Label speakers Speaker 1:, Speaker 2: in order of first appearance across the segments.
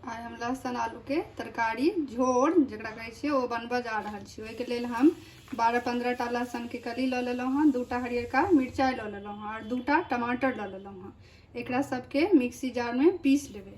Speaker 1: आइ हम लहसुन आलूके तरकारी झोर जकरा कहै छियै ओ बनबऽ जा रहल छी ओहिके लेल हम बारह पन्द्रह टा लहसुनके कली लऽ लेलहुँ हँ दू टा हरियरका मिरचाइ लऽ लेलहुँ हँ आओर दू टा टमाटर लऽ लेलहुँ हँ एकरा सभके मिक्सी जारमे पीस लेबै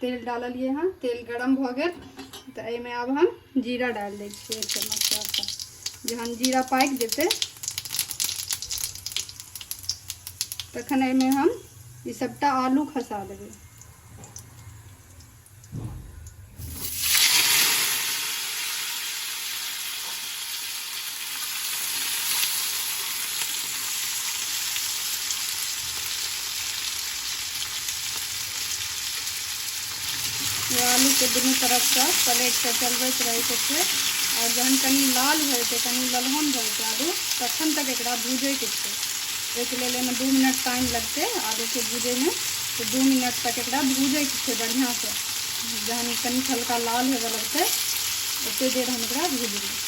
Speaker 1: तेल डाललिए हँ तेल गरम भऽ गेल तऽ एहिमे आब हम जीरा डालि दै छियै एक चम्मच चारिटा जहन जीरा पाकि जेतै तखन एहिमे हम ई सभटा आलू खसा देबै ये आलू के दुनू तरफ से पलट के चलबैत रहे के छै और जहन कनी लाल भए जेतै कनी ललहन भए जेतै आलू तखन तक एकरा भूजै के छै ओहिके लेल एहिमे दू मिनट टाइम लगतै आलू के भूजै में तो दू मिनट तक एकरा भूजै के छै बढ़िया से जहन कनी हल्का लाल होबऽ लगतै ओते देर हम एकरा भूजबै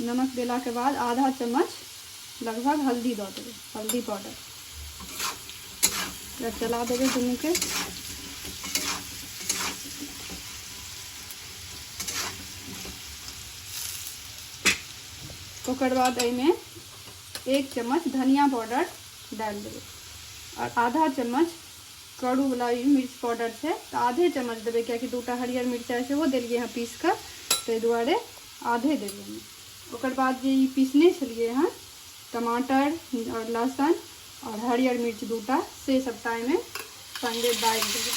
Speaker 1: नमक देला के बाद आधा चम्मच लगभग हल्दी दऽ देबै हल्दी पाउडर एकरा चला देबै दुनूके ओकर बाद एहिमे एक चम्मच धनिया पाउडर डालि देबै आओर आधा चम्मच करू वाला ई मिर्च पाउडर छै तऽ आधे चम्मच देबै किएकि दूटा हरियर मिरचाइ सेहो देलिए हँ पीस कऽ ताहि दुआरे आधे देबै ओकर बाद जे ई पीसने छलिए हँ टमाटर आओर लहसुन आओर हरियर मिर्च दूटा से सभटा एहिमे सङ्गे डालि देबै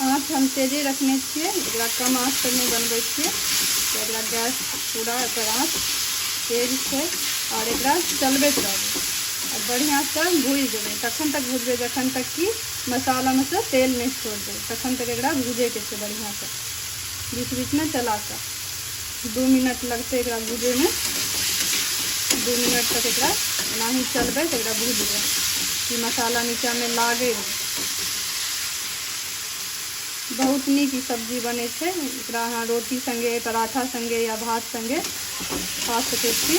Speaker 1: आँच हम तेजे रखने छियै एकरा कम आँच पर नहि बनबै छियै तऽ एकरा गैस पूरा एकर आँच तेज छै आओर एकरा चलबैत रहबै आ बढ़िआँसँ भूजि देबै तखन तक भूजबै जखन तक कि मसालामे सँ तेल नहि छोड़ देबै तखन तक एकरा भूजैके छै बढ़िआँसँ बीच बीचमे चला कऽ दू मिनट लगतै एकरा भूजैमे दू मिनट तक एकरा एनाही चलबै तऽ एकरा भूजबै कि मसाला नीचाँमे लागै नहि बहुत नीक ई सब्जी बनै छै एकरा अहाँ रोटी सङ्गे पराठा सङ्गे या भात सङ्गे खा सकै छी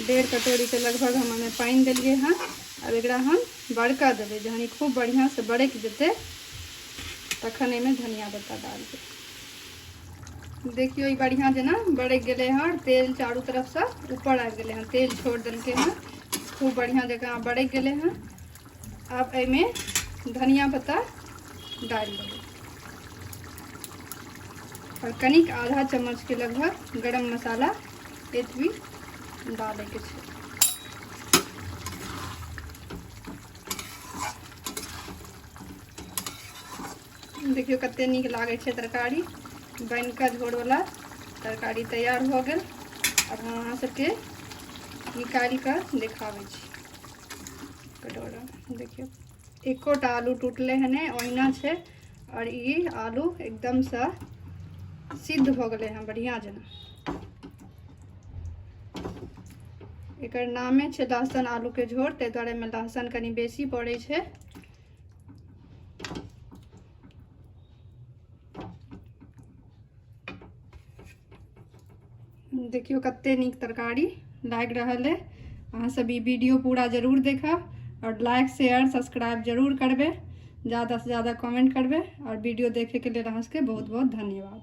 Speaker 1: डेढ़ कटोरीके लगभग हम ओहिमे पानि देलिए हँ आब एकरा हम बड़का देबै जहन ई खूब बढ़िआँसँ बड़कि जेतै तखन एहिमे धनिया पत्ता डालबै देखियौ ई बढ़िआँ जेना बड़कि गेलै हँ तेल चारू तरफसँ ऊपर आबि गेलै हँ तेल छोड़ देलकै हँ खूब बढ़िआँ जकाँ बड़कि गेलै हँ आब एहिमे धनिया पत्ता डालि देबै आओर कनिक आधा चम्मचके लगभग गरम मसाला एतबी डालैके छै देखियौ कतेक नीक लागै छै तरकारी बनि कऽ झोरवला तरकारी तैयार भऽ गेल आब हम अहाँ सभके निकालि कऽ देखाबै छी कटोरा देखियौ एकोटा आलू टूटलै हँ नहि ओहिना छै आओर ई आलू एकदमसँ सिद्ध भऽ गेलै हँ बढ़िआँ जेना एकर नामे छै लहसुन आलूके झोर ताहि दुआरे एहिमे लहसुन कनि बेसी पड़ै छै देखियो कते नीक तरकारी लागि रहल है अहाँ सब ई वीडियो पूरा जरूर देखब और लाइक शेयर सब्सक्राइब जरूर करबे ज्यादा से ज्यादा कमेंट करबे और वीडियो देखे के लिए अहाँ सबके बहुत बहुत धन्यवाद